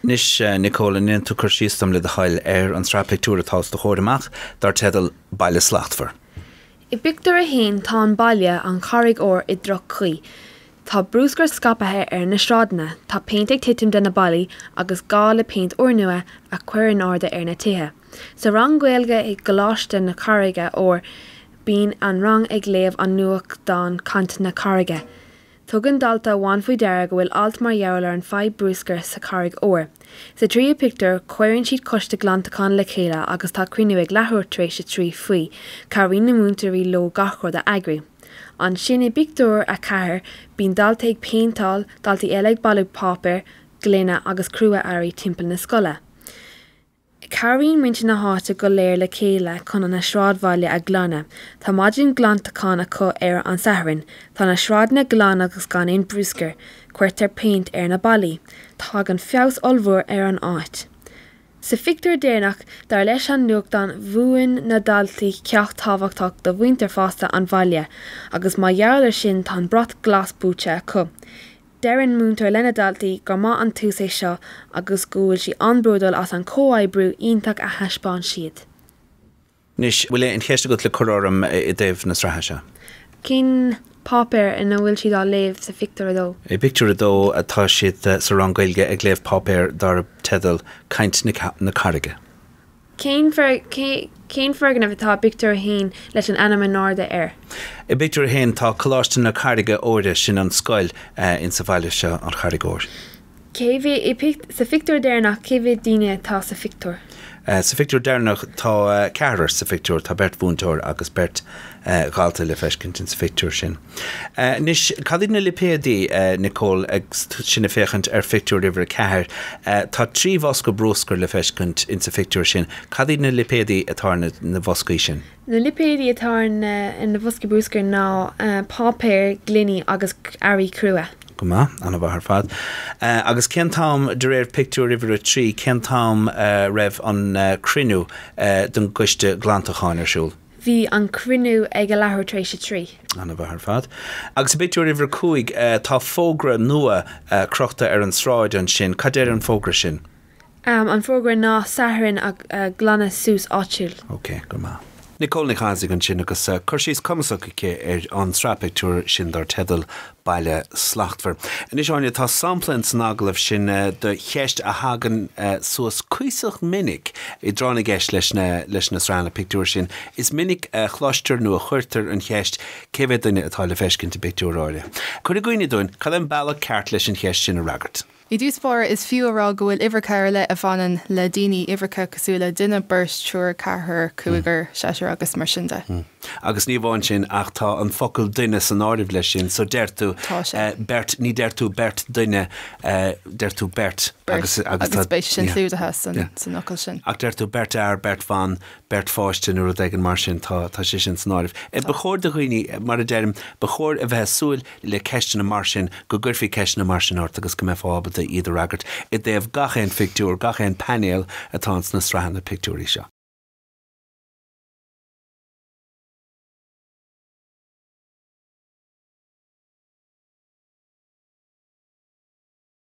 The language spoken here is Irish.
Anois, a Nicole, an ndéanfaidh tú cur síos dom, le do thoil, ar an tsraith pictiúr atá os do chomhair amach, dár teideal 'Baile Slachtmhar'? I bpictiúr a haon tá an baile, An Charraig Óir, i droch-chaoi. Tá brúscar scaipthe ar na sráideanna, tá péint ag titim de na ballaí agus tá gá le péint úrnua a chur in airde ar na tithe. Sa rang Gaeilge i gColáiste na Carraige Óir bíonn an rang ag léamh an nuachtán Caint na Carraige. Tugann dalta amháin faoi deara go bhfuil alt mar gheall ar an fadhb brúscair sa Charraig Óir. Sa tríú pictiúr, cuireann siad coiste glantacháin le chéile agus tá cruinniú ag leathuair tar éis a trí faoi. Cabhraíonn na múinteoirí leo gach rud a eagrú. Ansin i bpictiúr a ceathair, bíonn dalta ag péinteáil, daltaí eile ag bailiú páipéir, gloine agus crua-earraí timpeall na scoile. Cabhraíonn muintir na háite go léir le chéile chun an sráidbhaile a ghlanadh. Tá maidin ghlantacháin acu ar an Satharn. Tá na sráideanna glan agus gan aon brúscar. Cuirtear péint ar na ballaí. Tagann feabhas ollmhór ar an áit. Sa phictiúr deireanach, dar leis an nuachtán, mhúin na daltaí ceacht tábhachtach do mhuintir fhásta an bhaile agus mar gheall ar sin tá an brat glas buaite acu. Deireann múinteoir lena daltaí gur maith an tús é seo agus go bhfuil sí an-bródúil as an comhoibriú iontach a thaispeáin siad. Anois, bhfuil aon cheist agat le cur orm i dtaobh na sraithe seo? Cén páipéar ina bhfuil siad ag léamh sa phictiúr a dó? I bpictiúr a dó tá siad sa rang Gaeilge ag léamh páipéar darb teideal Caint na Carraige. Cén foirgneamh atá i bpictiúr a haon leis an ainm in airde air? I bpictiúr a haon tá Coláiste na Carraige Óir, sin an scoil in sa bhaile seo, An Charraig Óir. Cé mhéad i sa phictiúr deireanach, cé mhéad daoine atá sa phictiúr? Sa phictiúr deireanach tá ceathrar sa phictiúr, tá beirt mhúinteoir agus beirt dhalta le feiscint in sa phictiúr sin. Anois, cad iad na lipéadaí, Nicole, agus sinn ag féachaint ar phictiúr uimhir a ceathair. Tá trí bhosca bruscair le feiscint insa phictiúr sin. Cad iad na lipéadaí atá ar na bhoscaí sin? Na lipéadaí atá ar na bhoscaí bruscair ná páipéar, gloiní agus earraí crua. Go maith, an-mhaith ar fad. Agus cén t-am, de réir pictiúr uimhir a trí, cén t-am a raibh an cruinniú don gCoiste Glantacháin ar siúl? Bhí an cruinniú ag a leathuair tar éis a trí. An-mhaith ar fad. Agus i bpictiúr uimhir a cúig, tá fógra nua crochta ar an sráid ansin. Cad deir an fógra sin? An fógra ná Satharn glanadh suas áitiúil. Ok, go maith. Nicole Nic Thaidhg ansin agus cur síos cumasach aici ar an tsraith pictiúr sin dar teideal Baile slachtmhar. Anois, Áine, tá sampla in san agallamh sin de cheist a thagann suas cuíosach minic i dtráth na gceist le leis na sraitheanna pictiúr sin. Is minic a chloistear nó a chuirtear an cheist cé mhéad duine atá le feiscint i bpictiúr áirithe. Cuir i gcuimhne dúinn cad é an bealach ceart leis an cheist sin a fhreagairt. I dtús báire is fiú a rá go bhfuil uimhreacha ar leith a bhaineann le daoine, uimhreacha cosúil le duine, beirt, triúr, ceathrar, cúigear, seisear agus mar sin de. Agus ní amháin sin ach tá an focal duine san áireamh leis sin so deir tú beirt, ní deir tú beirt duine, deir tú beirt. agus clúdaithe san fhocal sin. Ach deir tú beirt fhear, beirt bhan, beirt pháiste nó rud éigin mar sin, tá sé sin san áireamh. Ba chóir do dhaoine, mar a deirim, ba chóir a bheith a' súil le ceisteanna mar sin, go gcuirfí ceisteanna mar sin ort agus go mbeifeá ábalta iad a fhreagairt i dtaobh gach aon phictiúr, gach aon painéal atá ins na sraitheanna pictiúirí seo.